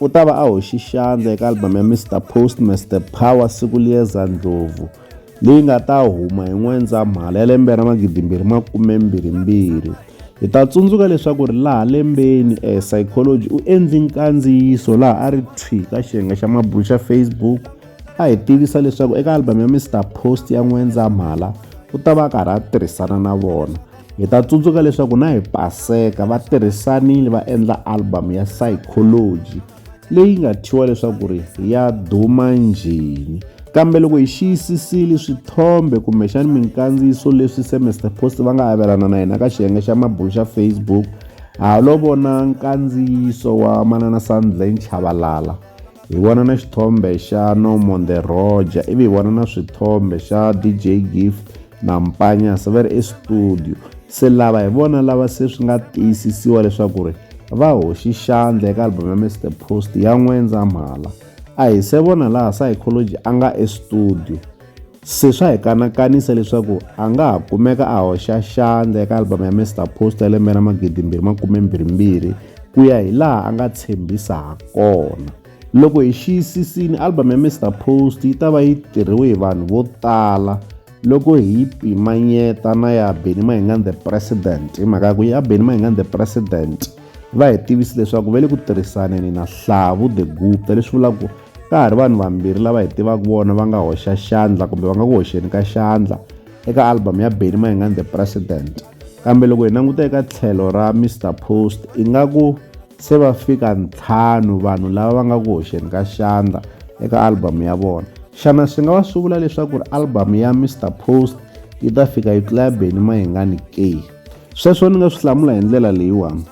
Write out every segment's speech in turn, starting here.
U ta va a hoxi xandla eka albhamu ya Mr Post Mr Power siku liyeza ndlhovu leyi nga ta huma hi N'wendzamhala ya lembe ra magidimbirhi makumembirhimbirhi. Hi ta tsundzuka leswaku ri laha lembeni eh, Psychology u endli nkandziyiso laha a ri thwi ka xiyenge xa mabulu xa Facebook a hi tivisa leswaku eka albhamu ya Mr Post ya N'wendzamhala u ta va a karhi a tirhisana na vona. Hi ta tsundzuka leswaku na hi Paseka va tirhisanile va endla album ya Psychology leyi nga thyiwa leswaku ri ya duma njhini. Kambe loko hi xiyisisile swithombe kumbexana minkandziyiso leswi se Mister Post va nga avelana na yena ka xiyenge xa mabulo xa Facebook ha lo vona nkandziyiso wa manana Sandlane Chabalala Hi vona na xithombe xa Norman the Roger ivi hi vona na swithombe xa DJ Gift na Mpanya se va ri estudio se lava hi vona lava se swi nga tiyisisiwa leswaku ri va hoxi xandla eka album ya Mr Post ya N'wendzamhala a hi se vona laha Psychology a nga estudio Se swa hi kanakanisa leswaku a nga ha kumeka a hoxa xandla eka album ya Mr Post ya lembe ra magidi mbirhi makume mbirhimbirhi ku ya hi laha a nga tshembisa ha kona loko hi xiyisisini album ya Mr Post yi ta va yi tirhiwe hi vanhu vo tala loko hi yi pimanyeta na ya Benny Mayengani the President hi mhaka ya ku ya Benny Mayengani the President va hi tivisi leswaku va le ku tirhisaneni na Hlavu the Gupta leswi vulaka ka ha ri vanhu vambirhi lava hi tivaka vona va nga hoxa xandla kumbe va nga ku hoxeni ka xandla eka album ya benny mayengani the president kambe loko hi languta eka tlhelo ra mr post ingaku se va fika ntlhanu vanhu lava va nga ku hoxeni ka xandla eka album ya vona xana swi nga va swi vula leswaku ri album ya mr post yi ta fika yi tlula ya benny mayengani ke sweswo ni nga swi hlamula hi ndlela leyiwani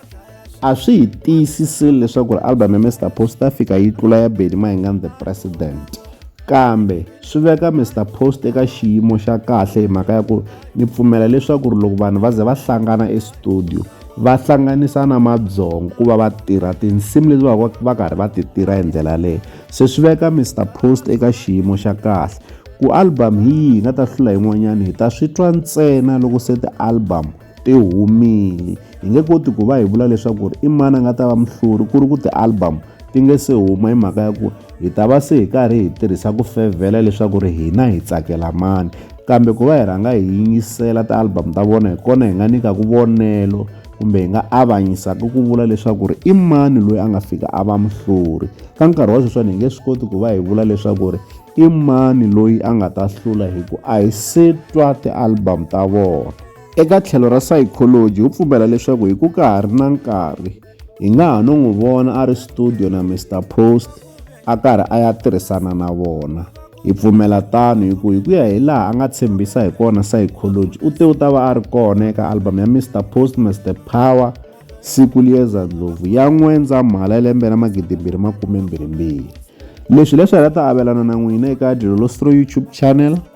a swi hi tiyisiseli leswaku ri album ya mr post ta fika yi tlula ya beni mahingani the president kambe swi veka mr post eka xiyimo xa kahle hi mhaka ya ku ni pfumela leswaku ri loko vanhu va ze va hlangana estudio va hlanganisa na madzongo ku va va tirha tinsimu leti va va karhi va ti tirha hi ndlela leyo se swi veka mr post eka xiyimo xa kahle ku album hi yihi hi nga ta hlula yin'wanyana hi ta swi twa ntsena loko se ti-album ti humile hi nge koti ku va hi vula leswaku i mani a nga ta va muhluri ku ri ku ti-album ti nge se huma hi mhaka ya ku hi ta va se hi karhi hi tirhisa ku fevhela leswaku ri hina hi tsakela mani kambe ku va hi rhanga hi yingisela ti-album ta vona hi kona hi nga nyikaku vonelo kumbe hi nga avanyisaka ku vula leswaku ri i mani loyi a nga fika a va muhluri ka nkarhi wa sweswani hi nge swi koti ku va hi vula leswaku ri i mani loyi a nga ta hlula hi ku a hi se twa ti-album ta vona Eka tlhelo ra psychology wu pfumela leswaku hi ku ka ha ri na nkarhi hi nga ha no n'wi vona a ri studio na Mr Post a karhi a ya tirhisana na vona hi pfumela tano hi ku hi ku ya hi laha a nga tshembisa hi kona psychology u te u ta va a ri kona eka album ya Mr Post Mr Power siku liyeza ndlopfu ya n'wendzamhala ya lembe ra magidimbirhi makume mbirhi mbirhi leswi leswi hi nga ta avelana na n'wina eka Dilolo Stro YouTube channel